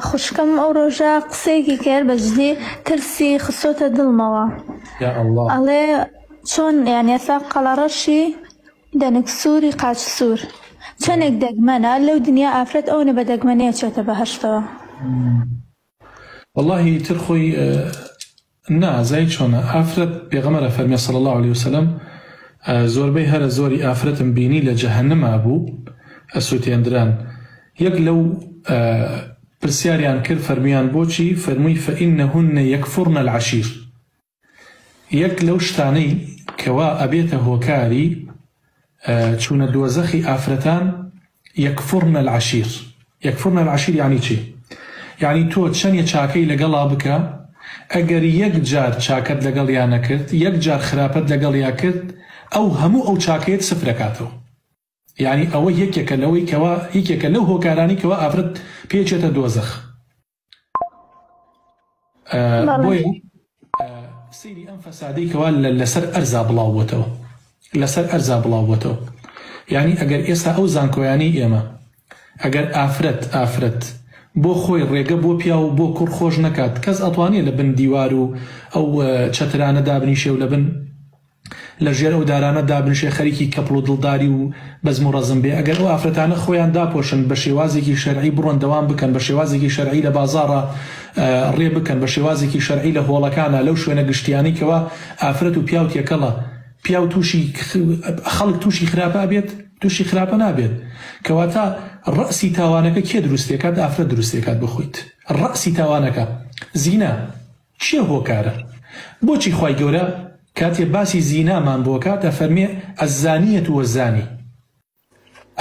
خوشکم ئەو ڕۆژە قسەیەکی کرد بە جدی ترسی خسۆتە دڵمەوە ئەڵێ چۆن یان ئێستا قەڵەڕەشی دەنک سووری قاچ سوور چەندێک دەگمەنە لەو دنیا ئافرەت ئەوەنە بە دەگمەنەیە چێتە بەهشتەوە واللهی تر خۆی نا زای چۆنە ئافرەت پێغەمبەر ئەفەرمێ صلی اللە علیە وسلم زۆربەی هەرە زۆری ئافرەتم بینی لە جەهەنما بوو ئەسوتێندران یەک لەو پرسیاریان کرد فەرمویان بۆچی فەرموی فانهن یکفرن العشیر یەک لەو شتانەی کەوا ئەبێتە هۆکاری چوونە دۆزەخی ئافرەتان یەکفورن العشیر یەکفورن العشیر یەعنی چی؟ یەعنی تۆ چەنێ چاکەی لەگەڵا بکە ئەگەر یەک جار چاکەت لەگەڵیا نەکرد یەک جار خراپەت لەگەڵیا کرد ئەو هەموو ئەو چاکەیەت سفرەکاتەوە یەعنی ئەوە یەکێکە لەوەی کەوا یەکێکە لەو هۆکارانەی کەوا ئافرەت پێی ئەچێتە دۆزەخ. بۆیە سەیری ئەم فەسادەی کەوا لەسەر ئەرزا بڵاو بۆتەوە لەسەر ئەرزا بڵاو بۆتەوە یعنی ئەگەر ئێستا ئەو زانکۆیانەی ئێمە ئەگەر ئافرەت ئافرەت بۆ خۆی ڕێگە بۆ پیا و بۆ کوڕ خۆش نەکات کەس ئەتوانێت لە بن دیوار و ئەو چەترانە دابنیشێ و لە بن لە ژێر ئەو دارانە دابنشێ خەریکی کەپڵ و دڵداری و بەزم و ڕەزم بێ ئەگەر ئەو ئافرەتانە خۆیان داپۆشن بە شێوازێکی شەرعی بڕۆن دەوام بکەن بە شێوازێکی شەرعی لە بازاڕا ڕێ بکەن بە شێوازێکی شەرعی لە هۆڵەکانا لەو شوێنە گشتیانەی کەوا ئافرەت و پیاو تێکەڵە پیاو تووشی خەڵک تووشی خراپە ئەبێت تووشی خراپە نابێت کەواتە ڕەسی تاوانەکە کێ دروستێکات ئافرەت دروستێکات بخۆیت ڕەسی تاوانەکە زینا کێ هۆکارە؟ بۆچی خوای گەورە کاتێ باسی زینامان بۆ کات ئەفەرمێ الزانیە و الزانی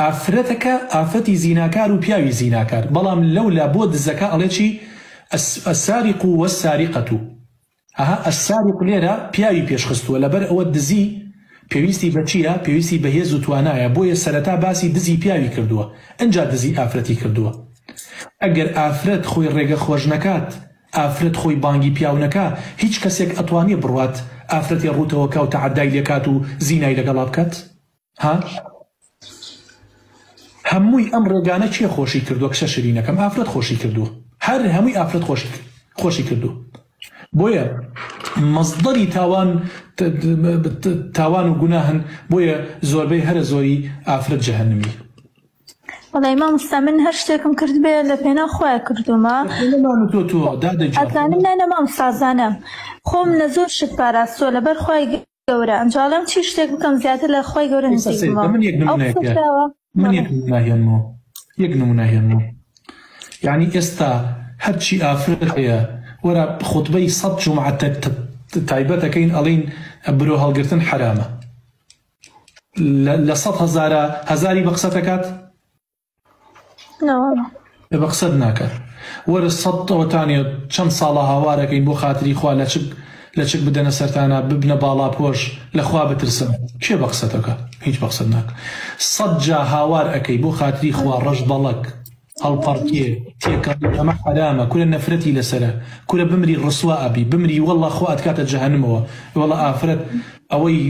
ئافرەتەکە ئافەتی زیناکار و پیاوی زیناکار بەڵام لەولا بۆ دزەکە ئەڵێ چی السارق و السارقە ئەها السارق لێرە پیاوی پێش خستووە لەبەر ئەوە دزی پێویستی بە چیە پێویستی بە هێز و توانایە بۆیە سەرەتا باسی دزی پیاوی کردووە ئەجا دزی ئافرەتی کردووە ئەگەر ئافرەت خۆی ڕێگە خۆش نەکات ئافرەت خۆی بانگی پیاو نەکا هیچ کەسێک ئەتوانێ بڕوات ئافرەتی ڕوتەوە کا و تەعەدای لێ کات و زینای لەگەڵا بکات؟ ها؟ هەمووی ئەم ڕێگانە کێ خۆشی کردوە کچە شرینەکەم ئافرەت خۆشی کردوە هەر هەمووی ئافرەت خۆشی خۆشی کردوە بۆیە مەزدەری تاوان تاوان و گوناهن بۆیە زۆربەی هەرە زۆری ئافرەت جەهەنمی بەڵێ مامۆستا من هەر شتێکم کردبێ لە پێناو خۆیان کردومە ئەزانم نانە مام سازانم خۆم لە زۆر شت پاراستووە لەبەر خۆی گەورە ئەنجاڵم چی شتێک بکەم زیاتر لە خۆی گەورە نزیکمەوە یەک نمونەهێنمەوە یعنی ئێستا هەرچی ئافرەت هەیە وەرە خطبەی سەد جمعە تایبەتەکەین ئەڵین برۆ هەڵگرتن حرامە لە سەد هەزارە هەزاری بە قسەت دەکات بە قسەت ناکات وەرە سەد ئەوتانێ چەند ساڵە هاوارەکەین بۆ خاتری خوا لە چک لە چک بدەنە سەرتانە ببنە باڵا پۆش لەخوا بترسن کێ بە قسەتەکە هیچ بە قسەت ناکە سەد جا هاوار ئەەکەی بۆ خاتری خوا ڕەش بەڵک ئەڵپەڕکێ تێکەڵی ئەمە حەرامە کورە نەفرەتی لەسەرە کورە بمری ڕسوا ئەبی بمری وەڵا خوا ئەتکاتە جەهەنمەوە ئێوەڵا ئافرەت ئەوەی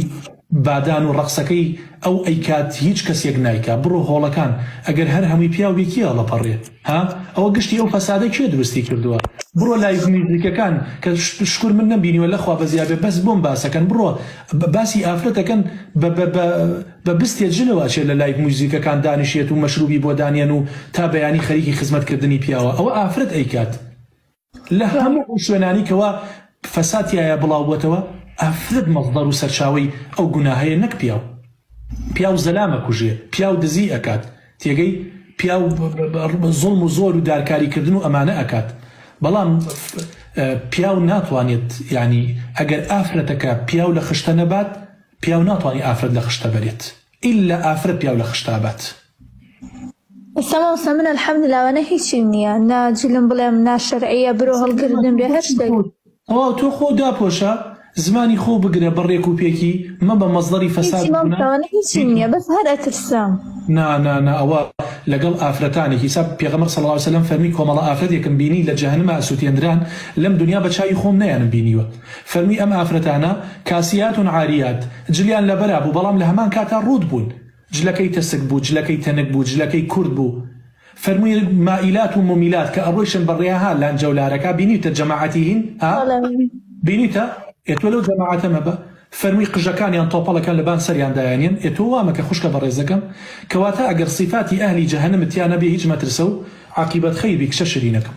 بادان و ڕەقسەکەی ئەو ئەیکات هیچ کەسێک نایکا بڕۆ هۆڵەکان ئەگەر هەر هەمووی پیاو بێ کێ ئەڵەپەڕێ ها ئەوە گشتی ئەو فەسادە کێ دروستی کردووە بڕۆ لایڤ میوزیکەکان کە شکور من نەمبینیوە لەخوا بەزیابێ بەس بۆم باسەکەن بڕۆ باسی ئافرەتەکەن بە بە بە بە بستێ جلەوە ئەچێت لە لایڤ موزیکەکان دانیشێت و مەشروبی بۆ دانێن و تا بەیانی خەریکی خزمەت کردنی پیاوە ئەوە ئافرەت ئەیکات لە هەموو ئەو شوێنانی کەوا فەساد تیایە بڵاو بۆتەوە ئافرەت مەزدەر و سەرچاوەی ئەو گوناهەیە نەک پیاو پیاو زەلام ئەکوژێ پیاو دزی ئەکات تێگەی پیاو زوڵم و زۆر و دارکاری کردن و ئەمانە ئەکات بەڵام پیاو ناتوانێت یانی ئەگەر ئافرەتەکە پیاو لە خشتە نەبات پیاو ناتوانی ئافرەت لە خشتە بەرێت ئیلا ئافرەت پیاو لە خشتا بات. ئیستا مامۆستا من الحمدللە ئەوانە هیچیم نییە نا جلم بڵێم نا شەرعیە برۆ هەڵگردن بێ هەر شتێک. تەواو تۆ خۆو داپۆشە زمانی خۆو بگرە بە ڕێک و پێکی مەبە مەزدەری فەساد هیچی مامۆستا ئەوانە هیچیم نییە بەس هەر ئەترسام. نا نا نا ئەوە لەگەڵ ئافرەتانێک حیساب پێغەمبەر صلی اللە علیە وسلم فەرمی کۆمەڵە ئافرەتێکم بینی لە جەهەنمە ئەسوتێندران لەم دونیا بە چاوی خۆم نەیانم بینیوە. فەرمی ئەم ئافرەتانە، کاسیات و عاریات، جلیان لەبەرا بوو، بەڵام لە هەمان کاتا ڕووت بوون. جلەکەی تەسک بوو، جلەکەی تەنک بوو، جلەکەی کورت بوو. فەرمی مائیلات و مومیلات، کە ئەڕۆیشن بە ڕێ، ها لانجە و لارەکا، بینیوتە جەماعەتی هین؟ ها؟ بینیوتە؟ ئێ تۆ لەو جەماعەتە مەبە. فەرمی قژەکانیان تۆپەڵەکەن لە بان سەریان دایانێن. ئێ تۆ وا مەکە خوشکە بەڕێزەکەم. کەواتە ئەگەر سیفاتی ئەهلی جەهەنمت تیا نەبێ هیچ مەترسە و عاقیبەت خەیر بی کچە شیرینەکەم.